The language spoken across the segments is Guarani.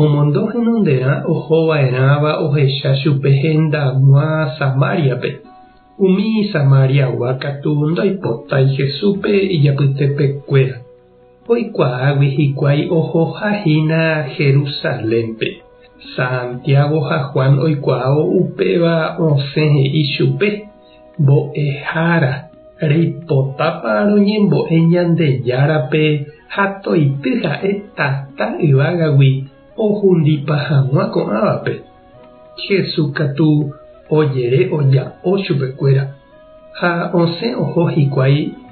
Omondo henonderã oho va'erãva ohecha chupe henda g̃uã Samáriape. Umi Samáriagua katu ndoipotái Jesúspe ijapytepekuéra. Oikuaágui hikuái ohoha hína Jerusalénpe. Santiago ha Juan oikuaávo upéva osẽ he'i chupe. Mbo'ehára, reipotápa roñembo'e Ñandejárape ha toity ha'e tata yvágagui ohundipa hag̃ua ko'ãvape? Jesús katu ojere oja'o chupekuéra ha osẽ oho hikuái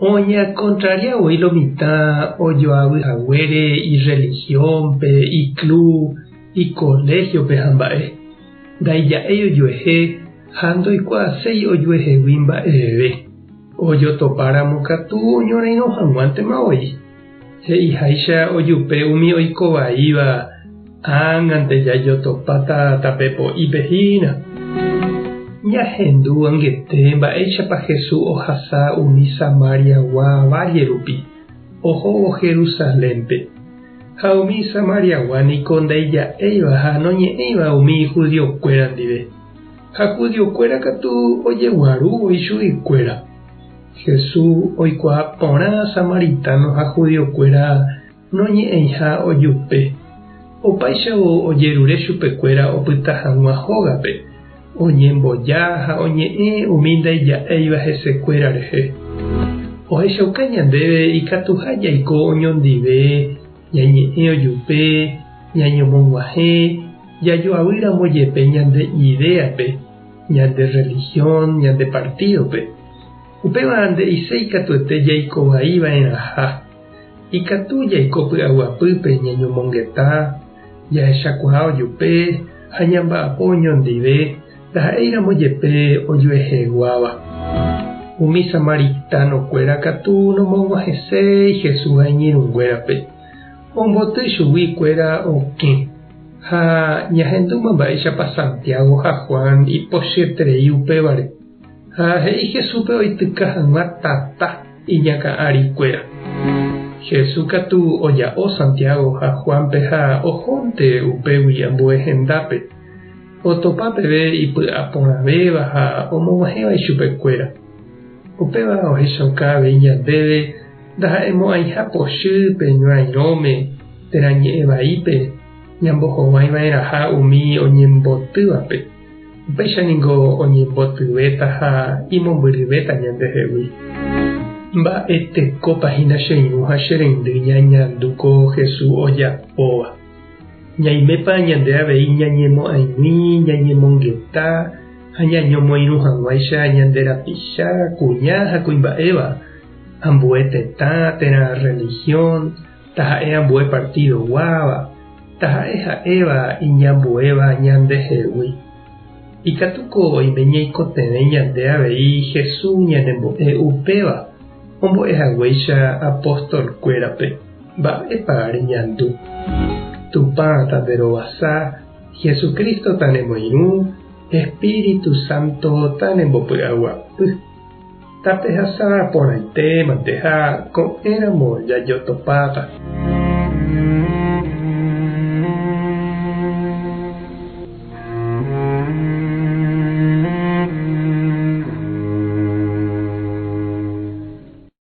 Oñeakontraria voi lo mitã ojoavy haguére irrelihiónpe, iklub, ikoléhiope ha mba'e. Ndaija'éi ojuehe ha ndoikuaaséi ojuehegui mba'eveve. Ojotopáramo katu oñorairõ hag̃uántema voi. He'iháicha ojupe umi oiko vaíva, Ág̃ante jajotopáta tape po'ípe hína. Ñahendu guanguete mba'éichapa Jesús ohasa umi Samariagua válle rupi, ohóvo Jerusalénpe. Ha umi Samariagua niko ndaija'éiva ha noñe'ẽiva umi judiokuéra ndive. Ha judiokuéra katu ojeguarúvo ichuguikuéra. Jesús oikuaa porã samaritáno ha judiokuéra noñe'ẽiha ojupe. Opáichavo ojerure chupekuéra opyta hag̃ua hógape, oñemboja ha oñe'ẽ umi ndaija'éiva hesekuéra rehe. Ohechauka ñandéve ikatuha jaiko oñondive, ñañe'ẽ ojupe, ñañomog̃uahẽ, jajoavýramo jepe ñande idéape. ñande rrelihión, ñande partídope. Upéva nde'ise ikatuete jaiko vai va'erãha. Ikatu jaiko py'aguapýpe ñañomongeta, jahechakuaa ojupe ha ñamba'apo oñondive ndaha'éiramo jepe ojueheguáva. Umi samaritanokuéra katu nomog̃uahẽséi Jesús ha iñirũnguérape. Omboty chugui kuéra okẽ. Ha ñahendúma mba'éichapa Santiago ha Juan ipochyterei upévare. Ha he'i Jesúspe oityka hag̃ua tata iñakã'ari kuéra. Jesús katu oja'o Santiago ha Juánpe ha ohónte upégui ambue hendápe, otopa peve ipy'aporãvéva ha omog̃uahẽva ichupe kuéra. Upéva ohechauka avei ñandéve ndaha'emo'ãiha pochy pe ñorairõme térã ñe'ẽ vaípe ñambohovái va'erãha umi oñembotyvape, upéicha ningo oñembotyvétaha imombyryvéta ñandehegui. Mba'etekópa hína che irũ ha che reindy ñañandu ko Jesús ojapóva! Ñaimépa ñande avei ñañemo'ãig̃ui ñañemongeta ha ñañomoirũ hag̃uáicha ñande rapicha, kuña ha kuimba'éva, ambue tetã térã rrelihión, taha'e ambue partído guáva, taha'e ha'éva iñambuéva ñandehegui? Ikatu ko oime ñaikotevẽ ñande avei Jesús ñanembo'e upéva ombo'e haguéicha apóstolkuérape. Mba'épa reñandu? Tupã tande rovasa, Jesucristo tanemoirũ, Espíritu Santo tanembopy'aguapy. Tapehasa porãite manteha ko'ẽramo jajotopáva.